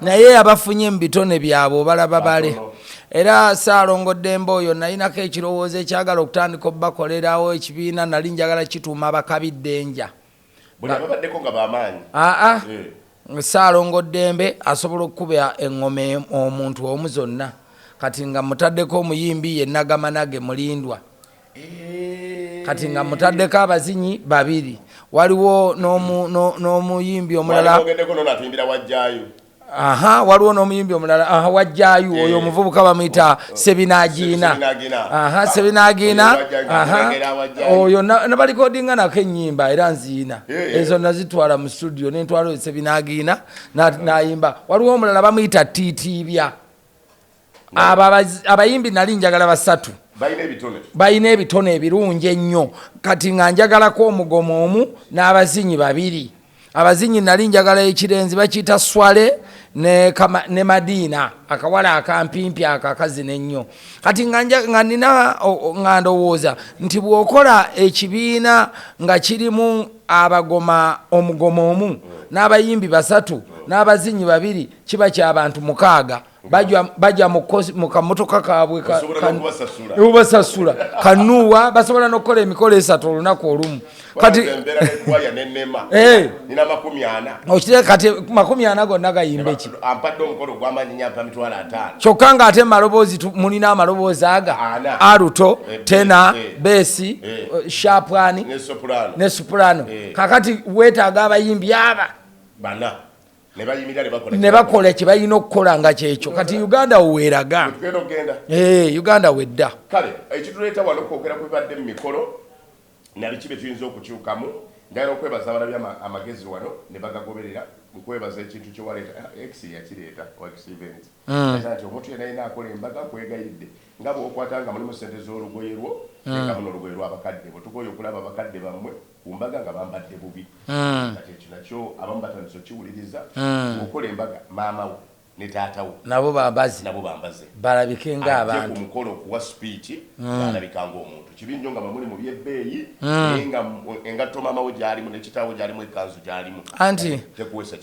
naye abafunye mu bitone byabwe obalaba bale era saalongo ddembe oyo nalinako ekirowoozo ekyagala okutandika obubakolerawo ekibiina nali njagala kituuma abakabidde enja aa eh. saalongo ddembe asobola okukuba eŋoma omuntu omu zonna kati nga mutaddeko omuyimbi ye nagamanage mulindwa kati nga mutaddeko abazinyi babiri waliwo n'omuyimbi omulala aha waliwo n'omuyimbi omulala aha wajjayu eh. oyo omuvubuka bamuyita oh, oh. sebinagiina aha ah, sebinagiina aha oyo nabalikodinga nako enyimba era nziina eh, eh. ezo nazitwala mu studio nentwala oyo sebinagiina nayimba waliwo omulala bamuyita titibya abo abayimbi nali njagala basatu balina ebitone ebirungi ennyo kati nga njagalako omugomo omu n'abazinyi babiri abazinyi nali njagala ekirenzi bakiyita swale ne madiina akawala akampimpi ako akazina ennyo kati nga nina nga ndowooza nti bw'okola ekibiina nga kirimu abagoma omugomo omu n'abayimbi basatu n'abazinyi babiri kiba ky'abantu mukaaga baja mu kamotoka kabwe ubasasula kanuwa basobola nokukola emikolo esatu olunaku olumu eh. okitee kati makumi ana gonna gayimbeki kyokka nga ate maloboozi mulina amaloboozi aga aruto eh, tena eh. besi shapwani ne supulano kakati wetaaga abayimbi aba ne bakola kye balina okukola nga kyekyo kati uganda weweraga eh, uganda wedda kale ekituleeta wano kwogera kwebadde mu mikolo nabiki bye tuyinza okukyukamu ndagala okwebaza abalabi amagezi wano ne bagagoberera nkwebaza ekintu kyewaleeta ah, x yakireeta oxvent hmm. nti omuntu yena yina akola embaga nkwegayiridde nga bwokwata nga mulimu sente z'olugoye lwo hmm. nga muno olugoye lwabakadde bwetugoye okulaba bakadde bammwe ku mbaga nga bambadde bubi mm. kati ekyo nakyo abamu batandise okiwuliriza mm. okola embaga maama wo ne taata wo nabo bambaze nabo bambaze balabike nga abantu ku mukolo okuwa sipiiti mm. balabika nga omuntu kibi nnyo nga bamuli mu byebbeeyi mm. naye nga engatto maama wo gyalimu ne kitaawo gyalimu ekanzu gyalimu anti tekuwesa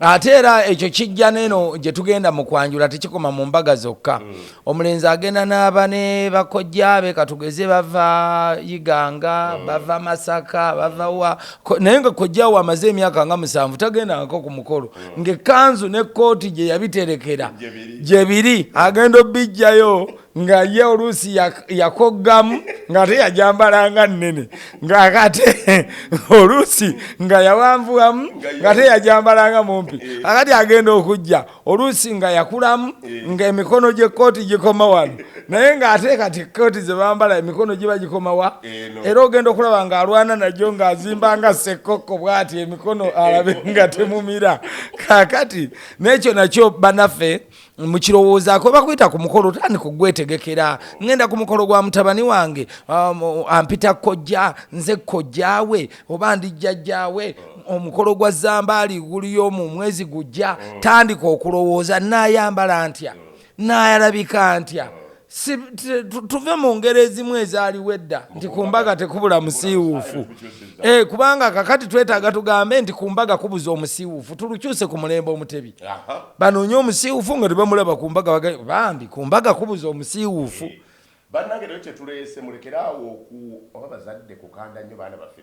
ate era ekyo kijja neno gye tugenda mu kwanjula tekikoma mu mbaga zokka mm. omulenzi agenda n'aba ne bakojjaabe katugeze bava iganga mm. bava masaka bava wa naye nga kojjaawo amaze emyaka nga musanvu tagendangako ku mukolo mm. ng'ekkanzu n'ekkooti gye yabiterekera gye biri agenda obijjayo nga ye oluusi yakoggamu ng'ate yajambalanga nnene ng'akate oluusi nga yawanvuwamu ng'ate yajambalanga mumpi akati agenda okujja oluusi nga yakulamu ng'emikono gy'ekkooti gikoma wano naye ng'ate kati ekkooti ze bambala emikono giba gikomawa era ogenda okulaba ng'alwana nagyo ng'azimba nga ssekkokko bw'ati emikono alabe nga temumira kakati n'ekyo nakyo banaffe mukirowoozaako bakuyita ku mukolo otandika okugwetegekera ngenda ku mukolo gwa mutabani wange um, ampita kojja nze kojjaawe oba ndijjajjaawe omukolo gwa zambaali guliyoomu mwezi gujja tandika okulowooza naayambala ntya naayalabika ntya Si, tuve mu ngeri ezimu ezaaliwo edda nti ku mbaga tekubula musiiwuufu e, kubanga kakati twetaaga tugambe nti ku mbaga kubuza omusiiwuufu tulukyuse ku mulembe omutebi banoonye omusiiwuufu nga tebamulaba ku mbaga bambi ku mbaga kubuza omusiiwuufu eh, bannange nayo kyetuleese mulekeraawo oku oba bazadde kukanda nnyo baana baffe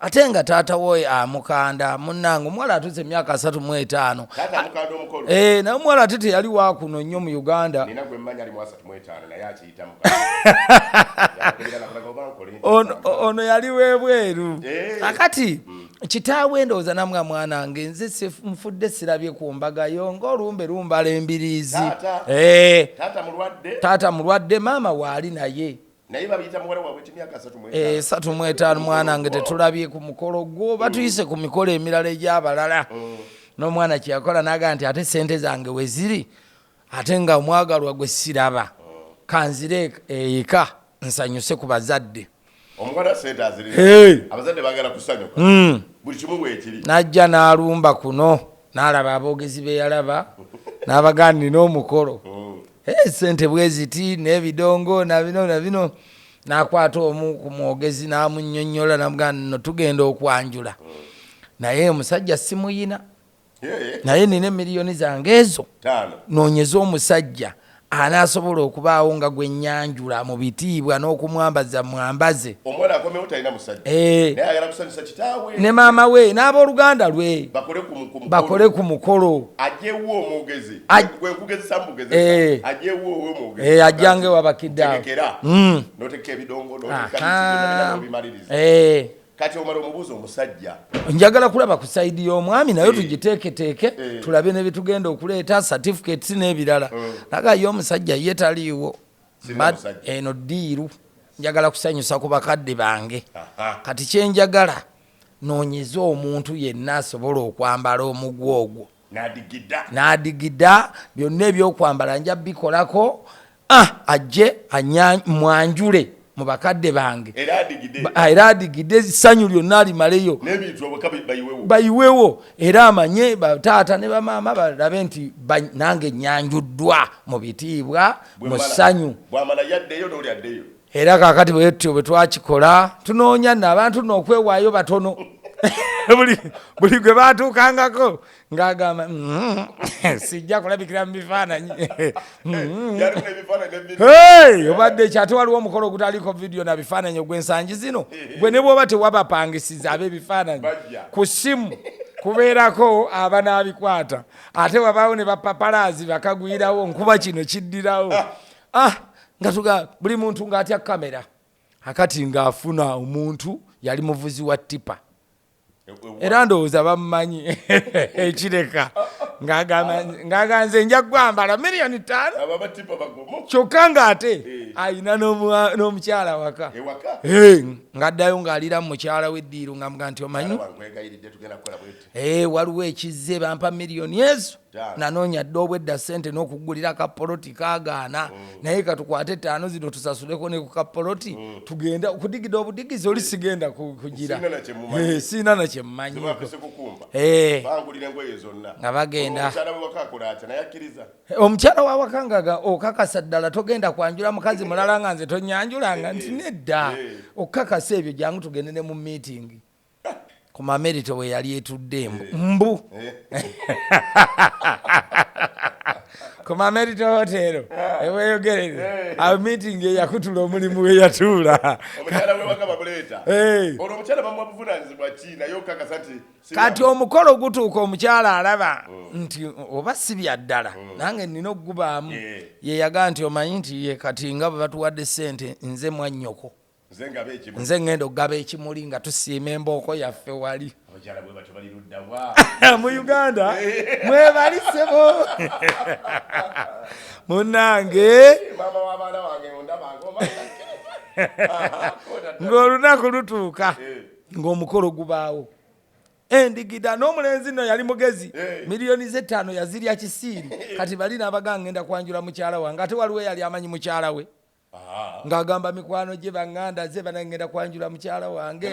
ate nga taata woye amukanda munange omuwala atuze emyaka asatu mu etaano eh, naye omuwala ate teyali wakuno nnyo mu uganda ono yali webweru eh. akati mm. kitaawe ndowooza namwa mwana nge nze nfudde sirabye ku mbagayo ngaolumbe lumbala embiriizi taata eh. mulwadde maama waali naye naye babiyita muwala wabwe kimyaka esatu mu etaano mwana nge tetulabye ku mukolo gwo batuyise ku mikolo emirala egyabalala mm. n'omwana kyeyakola naga nti ate sente zange weziri ate nga omwagalwa gwe siraba mm. kanzire eyika nsanyuse ku bazadde mm. najja n'alumba kuno n'alaba aboogezi beyalaba n'abagandi n'omukolo Eh, sente bweziti nebidongo nabino nabino nakwata omu ku mwogezi namunyonyola namugaa no tugenda okwanjula naye omusajja simuyina naye nina emiliyoni zange ezo nonyeza omusajja anasobola okubaawo nga gwenyanjula mu bitiibwa n'okumwambaza mwambaze eh. ne maama we n'abooluganda lwe bakole ku mukolo eh. eh, ajjange wabakiddaekera hmm. noteka ebidongo kati omala omubuuza omusajja njagala kulaba ku saidi y'omwami nayo eh. tugiteeketeeke eh. tulabe ne bitugenda okuleeta certificates n'ebirala hmm. naga ye omusajja ye taliiwo eno diiru njagala kusanyusa ku bakadde bange kati kyenjagala noonyeze omuntu yenna asobola okwambala omugwa ogwo n'adigida byonna ebyokwambala nja bikolako ah, ajje mwanjule mu bakadde bange era adigide essanyu lyonna alimaleyo bayiwewo era amanye bataata ne bamaama balabe nti nange nyanjuddwa mu bitiibwa mu ssanyu era kakati bwetyo bwetwakikola tunoonya no abantu nookwewaayo batono buli gwe batuukangako ng'agamba mm, sijja kulabikira mu bifaananyi mm. obadde kyate waliwo omukolo ogutaliko vidiyo na bifaananyi ogwensangi zino gwe ne bwoba tewabapangisiza ab'ebifaananyi ku simu kubeerako abanaabikwata ate wabaawo ne bapapalaazi bakagwirawo nkuba kino kiddirawo ah nga tuga buli muntu nga atya kamera akati nga afuna omuntu yali muvuzi wa tipa era ndowooza bammanyi ekireka ng'aganze nja gwambala miliyoni ttaano kyokka ng'ate eh. alina n'omukyala waka eh, ng'addayo ng'alira mu mukyala w'eddiiro nga mga nti omanyi eh, waliwo ekizze bampa miliyoni ezo nanoonya dda obwedda sente n'okugulira kapoloti kagaana mm. naye katukwate ettaano zino tusasuleko ne ku kapoloti mm. tugenda okudigida obudigizi oli sigenda kugira siina na kyemmanyi eh, eh. nga bagenda omukyala wa wakangaga okakasa ddala togenda kwanjula mukazi mulala nga nze tonyanjulanga eh, nti nedda okukakasa ebyo jangu tugende ne mu miitingi ku mamerito bwe yali etudde embu eh. mbu eh. ku mamerito hotero eh. eweyogerere awo meeting eyakutula omulimu weyatuula kati omukolo gutuuka omukyala alaba oh. nti oba si byaddala oh. nange nina okugubaamu yeyaga nti omanyi nti ye kati nga bwe batuwadde sente nze mwannyoko nze ŋŋenda okugaba ekimuli nga tusiima embooko yaffe wali mu uganda mwebali sebo munange ng'olunaku lutuuka eh. ng'omukolo gubaawo endigida n'omulenzi no yali mugezi eh. miliyoni z'ettaano yazirya kisiiri eh. kati bali n'abaga ngenda kwanjula mukyala wange ate waliwo yali amanyi mukyala we ng'agamba mikwano gye banganda ze bana ngenda kwanjula mukyala wange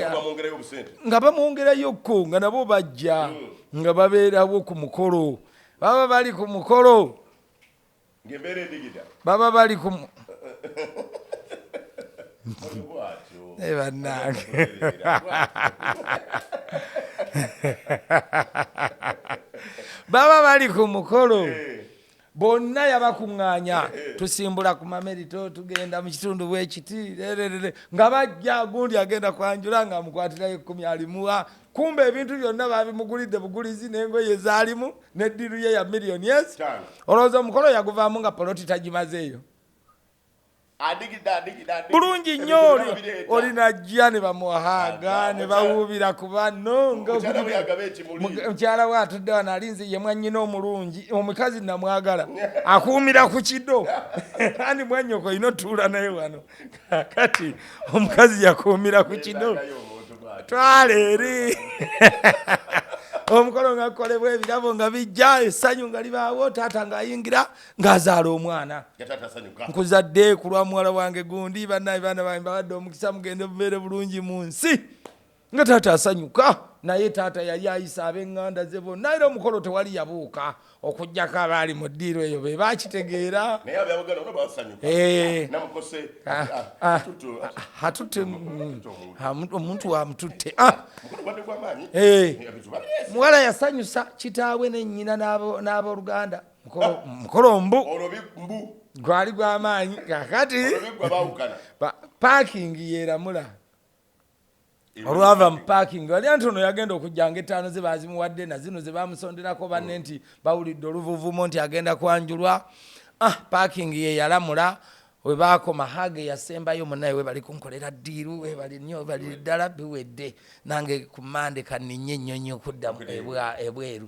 nga bamwongerayo kko nga nabo bajja hmm. nga babeerawo ku mukolo baba bali ku mukolo baba bali ku naye bannange baba bali ku mukolo eh. bonna yabakuŋŋaanya tusimbula ku mamerito tugenda mu kitundu bwekiti rererere nga bajja gundi agenda kwanjula nga amukwatirayo ekkumi alimuwa kumba ebintu byonna babimugulidde bugulizi n'engoye zaalimu n'eddiru ye ya million yes olowooza omukolo yaguvaamu nga poloti tagimazeeyo bulungi nnyo olinajja ne bamuhaga ne bawuubira ku banno mukyala we atudde wano ali nze ye mwannyina omulungi omukazi namwagala akuumira ku kido andi mwannyoko olina otuula naye wano kati omukazi yakuumira ku kido twala eri omukolo nga kukolebwa ebirabo nga bijja essanyu nga libaawo taata ng'ayingira ng'azaala omwana nkuzadde ku lwa muwala wange gundi banaye baana bange bawadde omukisa mugende bubeere bulungi mu nsi nga taata asanyuka naye taata yali ayisa abenganda ze bonna era omukolo tewali yabuuka okugjako abaali mu ddiiro eyo be bakitegeera omuntu wamututte muwala yasanyusa kitaawe nenyina n'abooluganda mukolo mbu gwali gwamaanyi kakati parking yeramula olwava mu parking wali anti ono yagenda okujjanga ettaano ze bazimuwadde na zino ze bamusonderako banne mm. nti bawulidde oluvuvumo nti agenda kwanjulwa ah parking ye yalamula we baakoma hage yasembayo munaye webali kunkolera ddiiru webali nnyo webali ddala biwedde nange ku mande kaninye ennyonyi okudda ebweru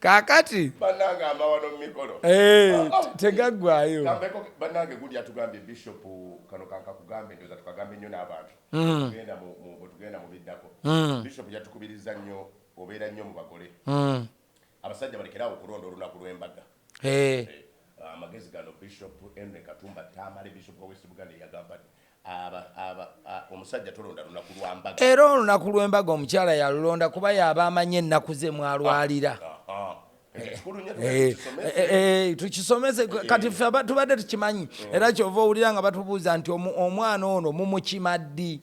kakati banange amawano mumikolo eh, ah, ah. tegaggwayo banange gudi atugambye bishop kano kankakugambe ndoza tukagambe nnyo n'abantu hmm. tugenda mu biddako hmm. bishop yatukubiriza nnyo obeera nnyo mu bagole hmm. abasajja balekerawo okulonda olunaku lw'embaga eh. Eh, amagezi gano bishop henry katumba tamale bishop wa west buganda eyagamba Era olunaku lw'embaga omukyala yalulonda kuba y'aba amanyi ennaku ze mwalwalira. Eh, eh, eh, tukisomese kati ffe tubadde tukimanyi era kyova owulira nga batubuuza nti omwana ono mumukima ddi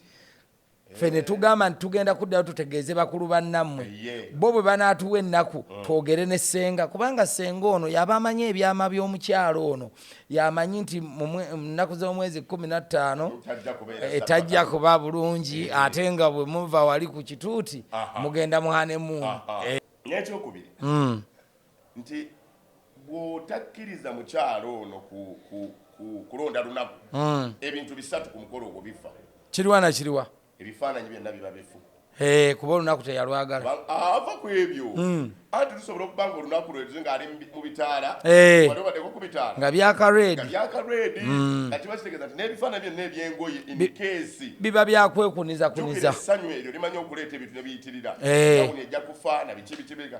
ffe ne tugamba nti tugenda kuddayo tutegeeze bakulu bannammwe bo bwe banaatuwa ennaku mm. twogere ne ssenga kubanga ssenga ono yaba amanyi ebyama by'omukyalo ono yamanyi nti mu nnaku z'omwezi kumi na ttaano etajja eh, kuba bulungi eh. ate nga bwe muva wali ku kituuti mugenda muhanemuunu eh. n'ekyokubiri mm. nti bw'otakkiriza mukyalo ono ku, ku, ku kulonda lunaku mm. ebintu bisatu ku mukolo ogwo bifa kiriwa na kiriwa ebifaananyi byonna biba bifu eh, kuba olunaku teyalwagala ava ku ebyo mm. anti lusobola okuba nga olunaku lwezo ngaali mu bitaala eh. wadeko ku bitaala nga byakaredi byakaredi mm. nga kiba kitegeeza nti n'ebifaananyi byonna ebyengoye inkeesi biba byakwekuniza kuniza essanyu eryo limanya okuleeta ebintu ne biyitirira eh. awuni ejja kufa na biki bikibirika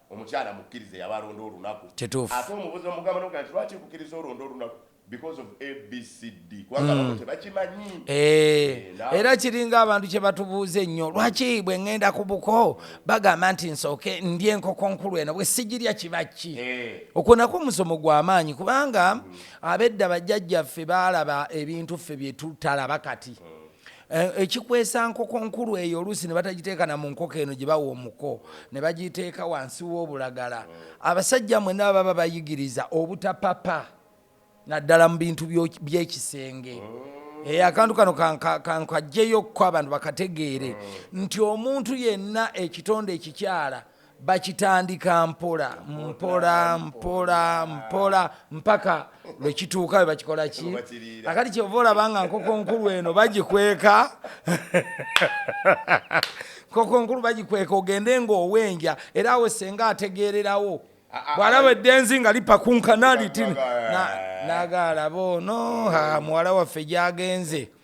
Omukyala mukkirize yaba alonda olunaku Kituufu. ate omubuza omugamba nomugamba nti lwaki nkukiriza olonde olunaku because of abcd kubanga abamu tebakimanyi Eh, Eh, na- era kiringa abantu kye batubuuza ennyo lwaki bwe ŋŋenda ku buko bagamba nti nsooke ndye enkoko nkulu eno bwe sigirya kiba ki Eh. okwo nakwo musomo gwa maanyi kubanga abedda bajjajjaffe baalaba ebintu ffe bye tutalaba kati Eh, ekikwesa nkoko nkulu eyo oluusi ne batagiteeka na mu nkoko eno gye bawa omuko ne bagiteeka wansi w'obulagala abasajja mwena baba bayigiriza obutapapa naddala mu bintu by'ekisenge eh, akantu kano kankajjeyokko abantu bakategeere nti omuntu yenna ekitonde ekikyala bakitandika mpola mpola mpola mpola mpaka lwekituuka we bakikola ki akati kyova olaba nga nkoko nkulu eno bagikweka nkoko nkulu bagikweka ogende ngaowenja era awe senga ategeererawo bwalaba eddenzi nga lipakunkana litini nagaalaba ono muwala waffe gyagenze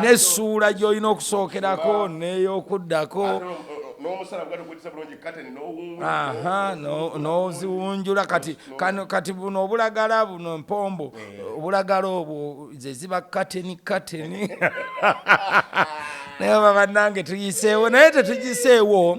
n'essuula gy'olina okusookerako n'ey'okuddako n'omusala bwali okwetisa bulungi kateni n'oziwunjula kati kati buno obulagala buno empombo eh. obulagala obwo ze ziba kateni kateni naye oba bannange tuyiseewo naye tetugiseewo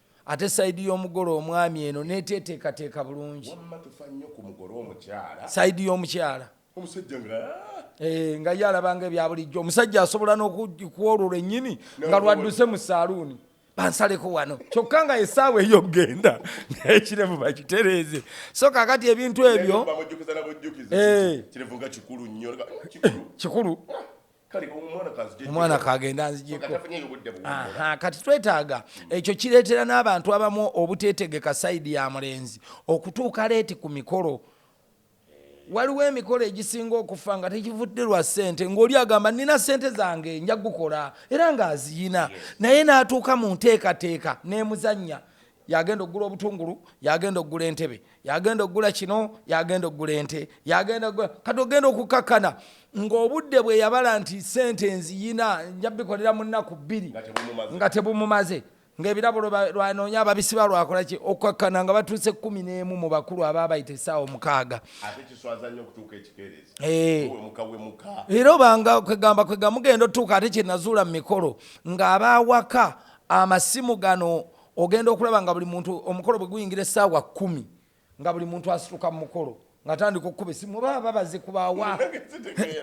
ate sayidi y'omugole omwami eno neteteekateeka bulungi sayidi y'omukyala eh, nga ye alabanga ebya bulijjo omusajja asobola n'okukwolwo lwennyini nga lwadduse mu saaluuni bansaleko wano kyokka nga esaawa eyo okugenda ekiremu bakitereeze so kakati ebintu ebyo eh. kikulu omwana kagenda anzijeko kati twetaaga ekyo kireetera n'abantu abamu obuteetegeka sayidi ya mulenzi okutuuka leeti ku mikolo waliwo emikolo egisinga okufa nga tekivudde lwa ssente ng'oli agamba nina ssente zange nja gukola era ng'aziyina naye n'atuuka mu nteekateeka n'emuzannya yagenda okugula obutungulu yagenda okugula entebe yagenda okugula kino yagenda okugula ente yagenda kati ogenda okukakkana ng'obudde bwe yabala nti sente nziyina nja bikolera mu nnaku bbiri nga tebumumaze ng'ebirabo lwanoonya ababisiba lwakola ki okukakkana nga batuuse kumi n'emu mu bakulu aba bayita essaawa omukaaga eh. era obanga kwegamba kwegamba mugenda otuuka ate kyenazuula mu mikolo ng'abaawaka amasimu gano ogenda okulaba nga buli muntu omukolo bwe guyingira essaawa kkumi nga buli muntu asituka mu mukolo ngatandika okukuba esimu oba baba bazikubawa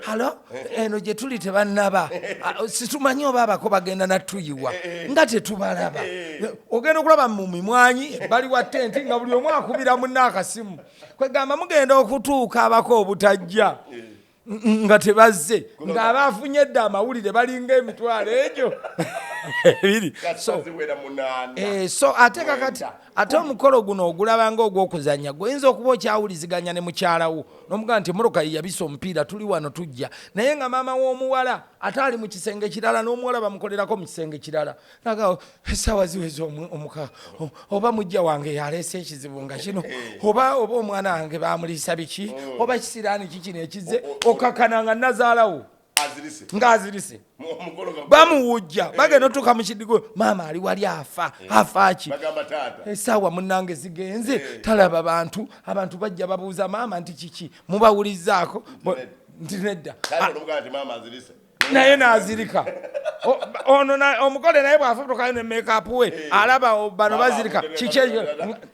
halo eno gye tuli tebannaba ah, situmanyi oba abako bagenda natuyiwa nga tetubalaba ogenda okulaba mu mimwanyi bali wa tenti nga buli omu akubira munna akasimu kwegamba mugenda okutuuka abako obutajja nga tebazze ng'aba afunye dda amawulire balinga emitwalo egyo ebiri eh, so ate kakati ate omukolo guno ogulabanga ogw'okuzannya gwoyinza okuba okyawuliziganya ne mukyala wo n'omugamba nti emmotoka ye yabisa omupiira tuli wano tujja naye nga maama w'omuwala ate ali mu kisenge kirala n'omuwala bamukolerako mu kisenge kirala naga esaawa ziweza omuka oba mujja wange yaleese ekizibu nga kino eh. oba oba omwana wange bamuliisa biki oh. oba kisiraani kikino ekize oh, oh, okakana nga nazaalawo ngaazirise bamuwujja eh. bagenda otuuka mu kidigo maama ali wali afa eh. afaaki esaawa munange zigenze talaba bantu abantu bajja babuuza maama nti kiki mubawulizzaako nti nedda naye nazirika ono omugole naye bwafutukayo ne makeup we eh. alaba bano bazirika kiki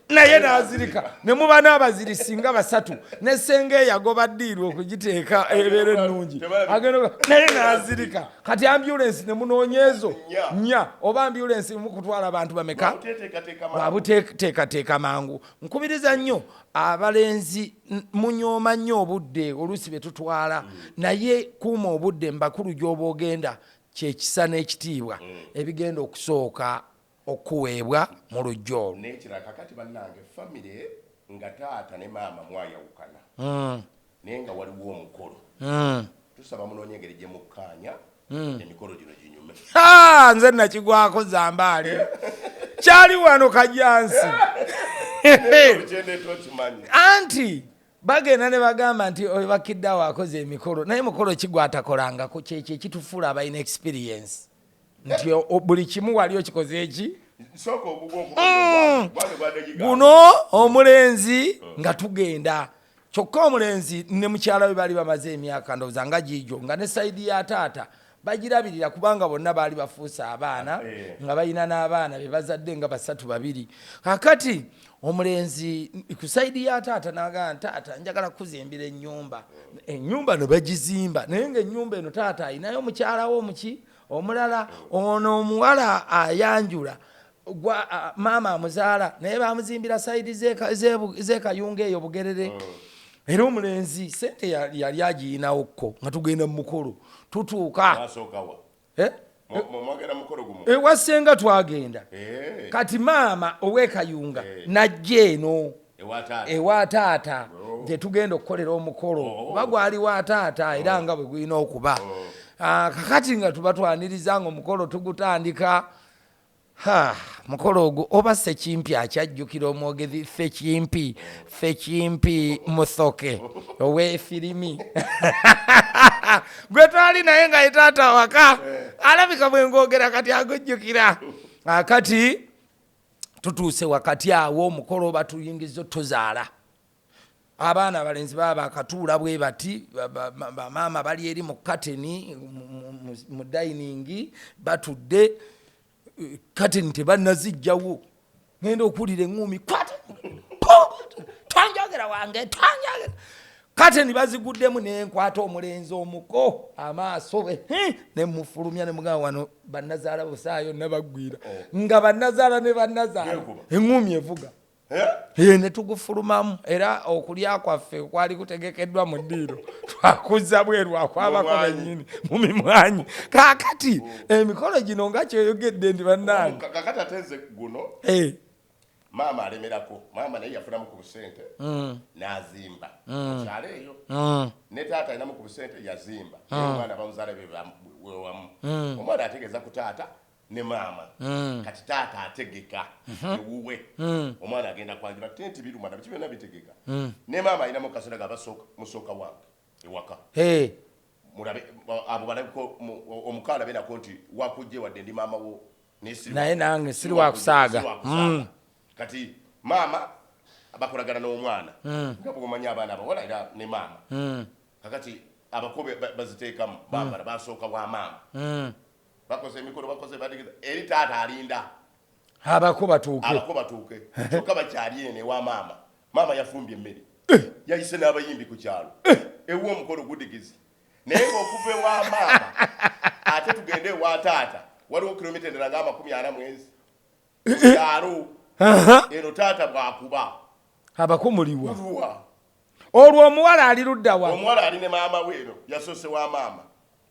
naye nazirika ne muba n'abaziri singa basatu ne senga eyagoba diiru okugiteeka ebeera ennungi naye nazirika kati ambulensi ne munoonyeezo nya oba ambulensi mu kutwala abantu bameka wabuteekateeka mangu nkubiriza nnyo abalenzi munyooma nnyo obudde oluusi bye tutwala mm. naye kuuma obudde mbakulu gy'oba ogenda kyekisa n'ekitiibwa mm. ebigenda okusooka okuweebwa mu lujja olwo nekirala kakati bannange famire nga taata ne maama mwayawukana mm. naye nga waliwo omukolo tusaba munoonye engeri gye mukkaanya hmm. emikolo gino ginyume nze nakigwako zambaale kyali wano kajansi anti bagenda ne bagamba nti oyo bakiddawo akoze emikolo naye mukolo kigwatakolangako kyekyo ekitufuula abalina experience nti buli kimu wali okikoze eki hmm. guno omulenzi nga tugenda kyokka omulenzi ne mukyala we baali bamaze emyaka ndowooza nga giigyo nga ne sayidi ya taata bagirabirira kubanga bonna baali bafuuse abaana ah, eh. nga balina n'abaana be bazadde nga basatu babiri kakati omulenzi ku sayidi ya taata nagamba taata njagala kukuzimbira ennyumba ennyumba no bagizimba naye nga ennyumba eno taata alinayo mukyalawo omuki omulala ono omuwala ayanjula gwa maama amuzaala naye bamuzimbira saidi zekayunga eyo bugerere mm. era omulenzi sente yali agiyinawo kko nga tugenda mumukolo tutuuka eh? ewasenga eh, twagenda eh. kati maama owekayunga najja eno ewa taata gyetugenda oh. okukolera omukolo oh. oba gwali wa taata era oh. nga bwe gulina okuba ah, kakati nga tuba twaniriza nga omukolo tugutandika Haa mukolo ogwo oba sekimpi akyajjukira omwogezi sekimpi sekimpi musoke owefirimi gwe twali naye nga etaata waka eh. alabika bwengogera kati agujjukira ah, kati tutuuse wakati awo omukolo oba tuyingiza otuzaala abaana abalenzi baba bakatuula bwe bati bamaama bali eri mu kateni mu dayiningi batudde kateni tebanazijjawo ngenda okuwulira eŋumi twanjogera wange twanjogera kateni baziguddemu nenkwata omulenzi omuko amaaso be nemufulumya nemugamba wano banazaala busaayo nabagwira oh. nga banazaala ne banazaala eŋumi evuga eh, ne tugufulumamu era okulya kwaffe kwali kutegekeddwa mu ddiiro twakuzza bweru akwabako bennyini mu mimwanyi kaakati emikolo gino nga kyoyogedde ndi bannange kakati ate nze guno eh. maama alemerako maama naye yafunamu ku busente mm. nazimba mm. kyalo eyo mm. ne taata alinamu ku busente yazimba omwana bamuzaala bewamu omwana ategeeza ku taata ne maama mm. kati taata ategeka mhm. ewuwe mm. omwana agenda kwanjula tenti biruma nabiki byonna bitegeka mm. ne maama alinamu kasera ga musooka wange ewaka mulabe abo balabiko omukaala alabe nako nti wakujje wadde ndi maama wo naye nange siri wakusaaga kati maama bakolagana n'omwana nga bwomanya abaana abawala era ne maama kakati abako baziteekamu bambala basooka wa maama bakoze emikolo bakoze badigida eri taata alinda abako batuuke abako batuuke kyokka bakyali eno ewa maama maama yafumbye emmere eh. yayise n'abayimbi ku kyalo eh. ewa omukolo gudigizi naye ng'okuva ewa maama ate tugende ewa taata waliwo kilomita endala nga amakumi ana mwezi eh, kyalo eno taata bwakuba abako muliwa olwo omuwala ali luddawa omuwala ali ne maama we eno yasoose wa maama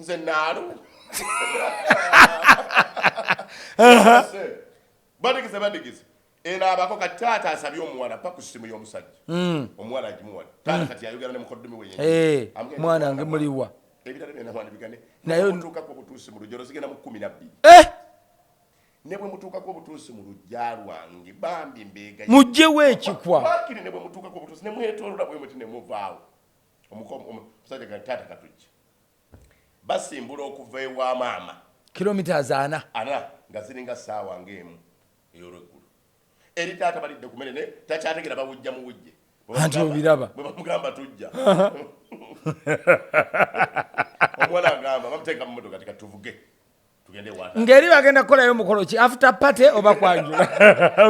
nze naalo badigize badigize eno abako kati taata asabye omuwala pa ku simu y'omusajja hmm. omuwala agimuwala taata kati ayogera ne mukoddomi we eh, mwana nge muliwa ebirala byona mwana bigane naye mutuukako obutuusi mu lujja olozigenda mu kkumi nabbiri eh! ne bwe mutuukako obutuusi mu lujja lwange bambi mbeega mujjewo ekikwa bakiri ne bwe mutuukako obutuusi ne mwetolola bwe muti ne muvaawo omusajja ga taata katujja basimbula okuva ewa maama kilometres ana ana nga ziringa saawa ngaemu eyolweggulu eri taata balidde ku mere naye takyategera bawujja mu wujje anti obiraba bwebamugamba tujja omuwala agamba bamuteeka mu motoka tikatuvuge ngeri bagenda kukolayo mukolo ki after party oba kwanjula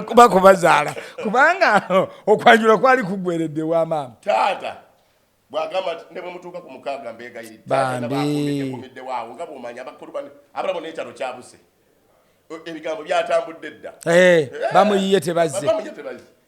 kuba kubazaala kubanga okwanjula kwali kugweredde wa maama taata bwagamba nti ne bwemutuuka ku mukaaga mbeegayiriddwawo nga bwomanya abakulu bane abalabo n'ekyalo kyabuse e, ebigambo byatambudde dda eh, eh, bamuyiye tebaze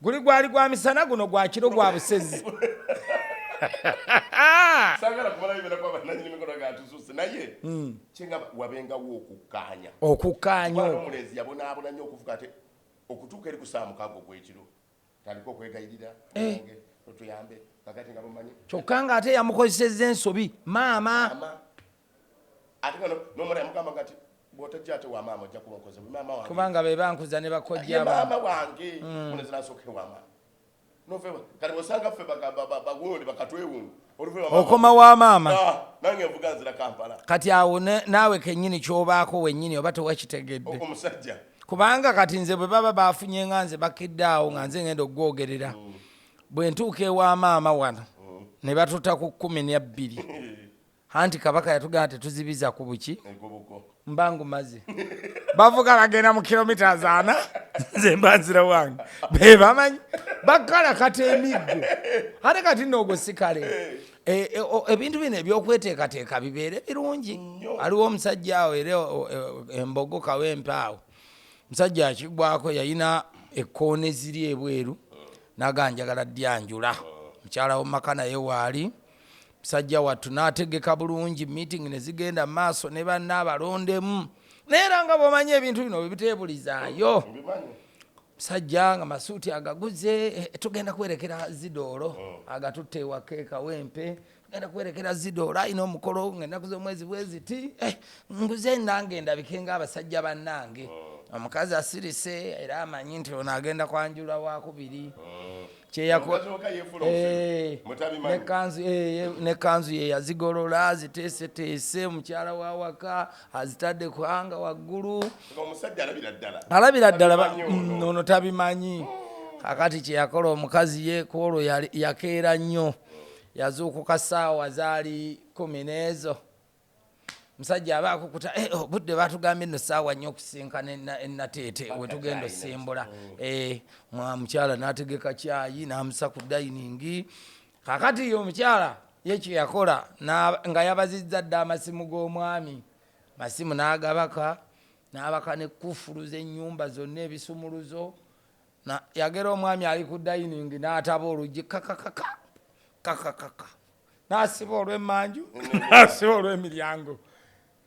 Guli gwali gwa misana guno gwa kiro gwa busezi. Sagala kubala bibera kwa bananyi mikono ga tususe naye. Mm. Chenga wabenga wo okukanya. Okukanya. Kwa mulezi yabona abona nyo okufuka ate okutuka eri kusamu kago gwe kiro. Taliko kwegayirira. Eh. Otuyambe. Kakati ngabumanyi. Chokanga ate yamukozeseza ensobi. Mama. Mama. ate nga nomwana yamugamba nga ti bwotajja ate wamaama ojja kuba okoze kubanga be bankuza ne bakojjamaama wange onezinasooke mm. wamaama nofeba kati bosanga ffe bagundi bakatwewungu okoma wa maama ah, nange nvuga nzira kampala kati awo naawe kenyini kyobaako wenyini oba tewakitegedde omusajja kubanga kati nze bwe baba bafunye nga nze bakidde awo nga nze ngenda okugwogerera mm. bwe ntuuka ewa maama wano mm. ne batuta ku kumi nebbiri anti kabaka yatugamba tetuzibiza ku buki mba ngumaze bavuga bagenda mu kilomita zaana nze mba nzira wange be bamanyi bakala kati emiggo ate kati noogo sikale e, e, ebintu bino ebyokweteekateeka bibeere birungi aliwo omusajja awo era e, embogo kawo empaawo omusajja akigwako yayina ekkoona eziri ebweru naganjagala dyanjula mukyala womumaka naye waali musajja wattu n'ategeka bulungi meeting ne zigenda maaso ne banna abalondemu naye era nga bwomanyi ebintu bino bwebiteebulizaayo musajja nga masuuti agaguze eh, tugenda kuwerekera zidoolo oh. agatutte ewaka ekawempe tugenda kuwerekera zidoolo ayina omukolo ngaenaku z'omwezi bweziti eh, nguze nange ndabike nga abasajja bannange oh. omukazi asirise era amanyi nti ono agenda kwanjula wakubiri oh. nekanzu ye yazigolola aziteeseteese mukyala wa waka azitadde kuhanga waggulu alabira ddala mm, ono tabimanyi oh. kakati kyeyakola omukazi ye kwolwo yakeera nnyo yazuukuka saawa zaali kumi n'ezo musajja aba akukuta eh, oh, budde batugambye no saawa nnyo okusinkana enateete e wetugenda osimbula mm. eh, mukyala nategeka kyayi namusa ku dayiningi kakati yo omukyala yekyo yakola nga yabazizza dda amasimu g'omwami masimu nagabaka nabaka nekufulu zenyumba zonna ebisumuluzo Na, yagera omwami ali ku dayiningi n'ataba oluggi kakakaka kakakaka n'asiba olw'emmanju n'asiba olw'emiryango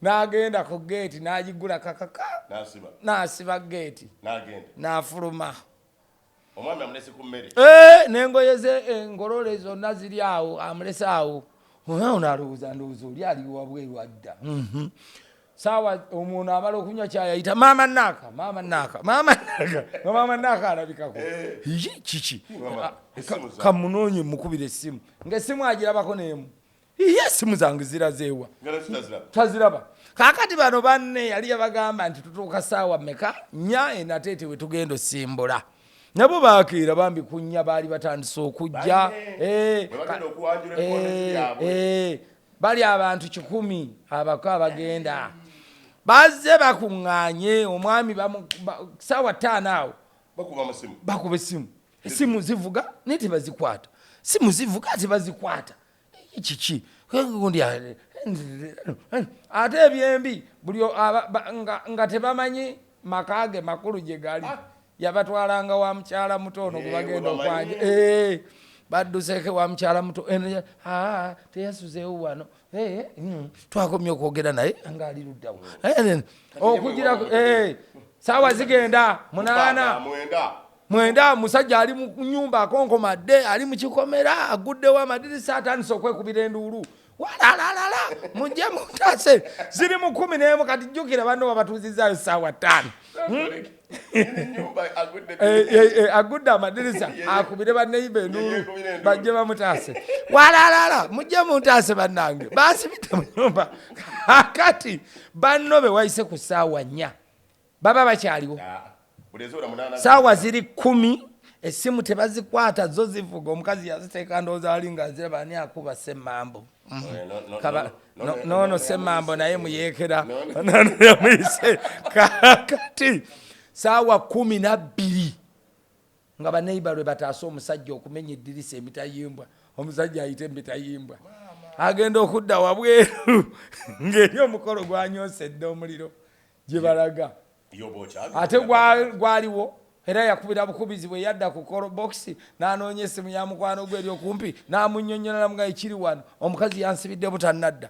n'agenda ku geeti n'agiggula kakaka n'asiba geeti n'afuluma omwami amulese ku mmere eh, n'engoye ze engolole eh, zonna ziri awo amulese awo ono alowooza ndowooza oli aliwabweru adda mhm. saawa omuntu amala okunywa kyayayita maama naaka maama naaka maama naaka nga maama naaka alabikako eh. yi kiki ah, kamunoonye mukubira essimu ngaessimu agirabako neemu iye essimu zange zirazeewa taziraba kakati bano banne yali yabagamba nti tutuuka saawa meka nya enateete we tugenda osimbula nabo bakeera bambi kunya baali batandise okujja Bali abantu kikumi abako abagenda bazze bakuŋŋaanye omwami saawa ttaano awo bakuba essimu essimu zivuga naye tebazikwata simu zivuga ate bazikwata kiki ate ebyembi buli nga tebamanyi maka ge makulu gye gali ah, Yabatwalanga wa mukyala muto ono gwe bagenda okwanja. Eh, badduseko wa mukyala muto eno ya- aa, teyasuzeewo wano Eh, mm, twakomye okwogera naye ngaali luddawo Eh, eh, okugirako eh, saawa zigenda munaana mwenda mwenda musajja ali mu nyumba akonkomadde ali mu kikomera aguddewo amadirisa atandise okwekubira enduulu walalalala mujje mutase ziri mu kumi nemu kati jjukira banno babatuuzizaayo saawa ttaano agudde eh, eh, eh, amadirisa akubire baneiba enulu bajje bamutaase walalala mujje muntaase bannange basibite mu nyumba kakati banno bewayise ku saawa nnya baba bakyaliwo saawa ziri kumi essimu tebazikwata zo zivuga omukazi yaziteeka ndowooza ali nga aziraba ani akuba semmambo noono semmambo naye muyeekera yamuyise kakati saawa kumi nabbiri nga baneiba lwe bataase omusajja okumenya eddirisa emitayimbwa omusajja ayite emitayimbwa agenda okudda wabweru ng'eri omukolo gwanyoosa edda omuliro gye balaga ate gwaliwo era yakubira bukubizi bwe yadda ku kolo bokisi n'anoonya essimu ya mukwano gwe eri okumpi n'amunnyonnyolamu nga ekiri wano omukazi yansibidde butannadda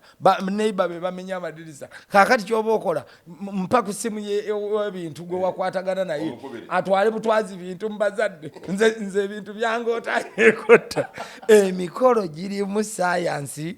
neiba be bamenya amadirisa kaakati ky'oba okola mpa ku ssimu y'ebintu gwe wakwatagana naye atwale butwazi bintu mu bazadde nze ebintu byange otayekotta emikolo girimu sayansi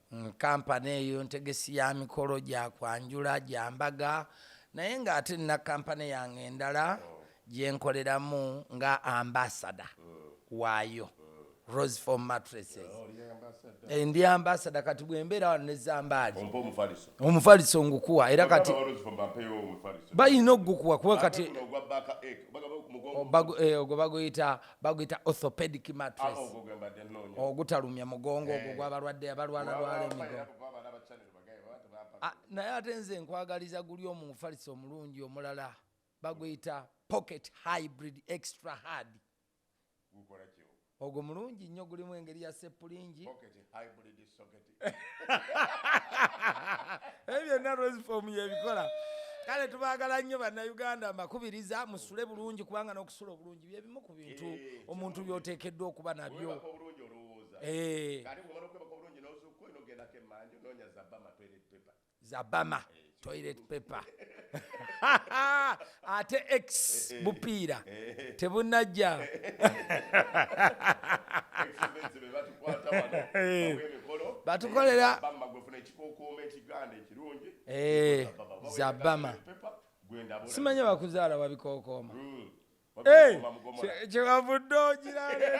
Mm, kampani eyo ntegesi ya mikolo gya kwanjula gya mbaga naye ng'ate nina kampani yange endala gyenkoleramu nga ambasada waayo rose for mattresses Eh, ndi ambasada kati bwembeera wano ne zambaali Ompa omufaliso. omufaliso ngukuwa era kati Baba Rose Fomba ampeeyo omufaliso. balina okugukuwa kuba kati Ate guno ogwa Baaka Egg, bagaba ku mugongo. bagu- eh, ogwo baguyita baguyita orthopedic mattress ogutalumya mugongo ogwo eh. gwabalwadde abalwalalwala emigongo ah, naye ate nze nkwagaliza guli omufalisi omulungi omulala baguyita pocket hybrid extra hard ogwo mulungi nnyo gulimu engeri ya seppulingi ebyo byonna rosefom yebikola kale tubagala nnyo bannayuganda mbakubiriza musule bulungi kubanga n'okusula obulungi byebimu ku bintu eh, omuntu byoteekeddwa okuba nabyo eh. za bama toilet paper ate x eh, eh. bupiira eh, tebunajja batukolera za bama simanya bakuzaala wabikokooma hmm. kyewavudde ogirale